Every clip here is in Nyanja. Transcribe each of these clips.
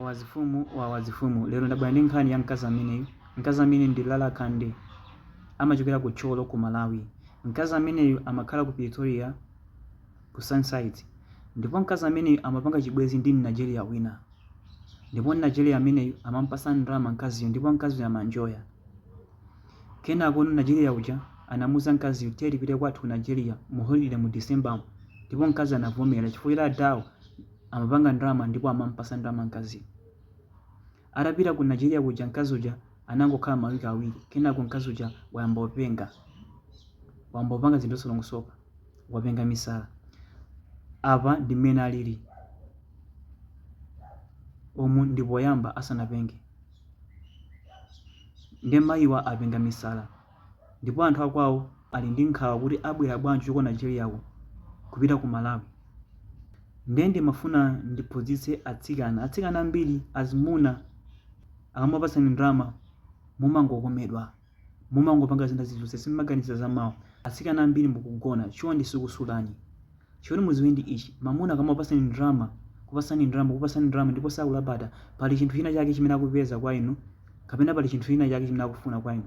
Wawazifumu wawazifumu lero ndabwera ndi nkhani ya mkazi ameneyu mkazi ameneyu ndi Lala Kande amachokera ku Tcholo ku Malawi mkazi ameneyu amakhala ku Pretoria ku Sunnyside ndipo mkazi ameneyu amapanga chibwezi ndi Mnigeria wina ndipo Mnigeria ameneyu amampasa ndalama mkaziyo ndipo mkaziyo amaenjoya kenako Mnigeria uja anamuuza mkaziyo tiye tipite kwathu ku Nigeria mu holiday mu December ndipo mkazi anavomera chifukwa choti adawo amapanga ndalama ndipo amamupasa ndalama mkaziyo. Atapita ku Nigeria kuja mkazi uja anangokhala ma week awiri kenako mkazi uja wayamba openga. Wayamba opanga zinthu zosalongosoka. Wapenga misala. Apa ndi mmene alili. Umu ndi poyamba asanapenge. Nde mayiwa apenga misala. ndipo anthu akwawo ali ndi nkhawa kuti abwera bwanji kuchoka ku Nigeria ko kupita ku Malawi nde ndimafuna ndiphunzitse atsikana atsikana ambiri azimuna akamakupatsani ndalama mumangokomedwa mumangopanga zina zilizonse simumaganiza za mawa atsikana ambiri mukugona chonde sikusulani Choti muziwe ndi ichi, mamuna akamakupatsani ndalama, kupatsani ndalama, kukupatsani ndalama ndipo sakulabada, pali chinthu china chake chimene akupeza kwa inu kapena pali chinthu china chake chimene akufuna kwa inu.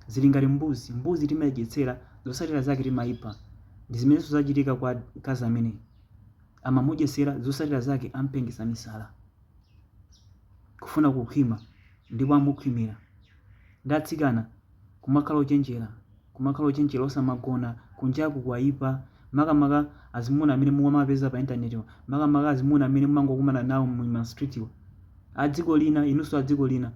Zili ngati mbuzi, mbuzi timaidyetsera, zotsatira zake timaipha. Ndizimenenso zachitika kwa mkazi ameneyu amamudyetsera, zotsatira zake ampengitsa misala, kufuna kukhwima, ndipo amukhwimira. Nde atsikana. Kumakhala ochenjera, kumakhala ochenjera osamagona, kunjaku kwaipa, makamaka azimuna amene mumawapeza pa internet wa, makamaka azimuna amene mumangokumana nawo muma street wa, adziko lina, inunso adziko lina,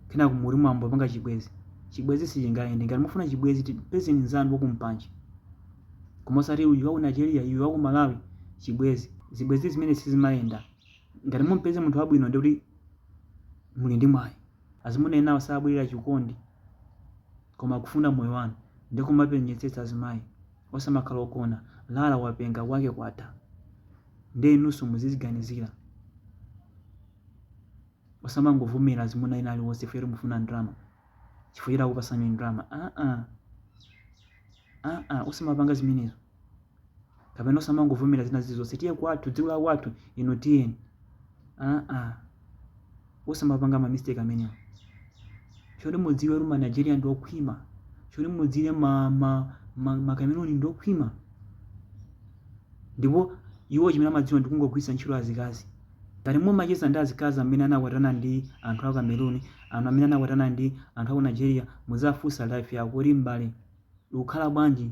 kenako mukuti mwayamba kupanga chibwenzi, chibwenzi sichingayende, ngati mukufuna chibwenzi pezeni nzanu waku mpanje, koma osati uyu waku Nigeria uyu waku Malawi, chibwenzi, zibwenzi zimenezi sizimayenda, ngati mumpeze munthu wabwino ndekuti muli ndi mwayi. Azimuna enawo sabwerera chikondi koma kufuna moyo wanu nde kumapenyetsetsa azimayi osamakhala ogona Lala wapenga zake zatha nde inunso muziziganizira osamangovomera azimuna ena aliwonse chifukwa choti mufuna ndalama chifukwa choti akupasani ndalama aa aa osamapanga zimenezo. kapena osamangovomera zina zilizonse tiye kwathu dziko la kwathu ino tiyeni aa osamapanga ma mistake amenewo choti mudziwe kuti ma nigeria ndi okhwima choti mudziwe ma, ma, ma, ma cameroon ndi okhwima ndipo iwo chimene amadziwa ndi kungogwiritsa ntchito azikazi ngati mumacheza ndi azikazi amene anakwatana ndi anthu a cameroon anthu amene anakwatana ndi anthu a ku nigeria muzafunsa life yako kuti m'bale ukukhala bwanji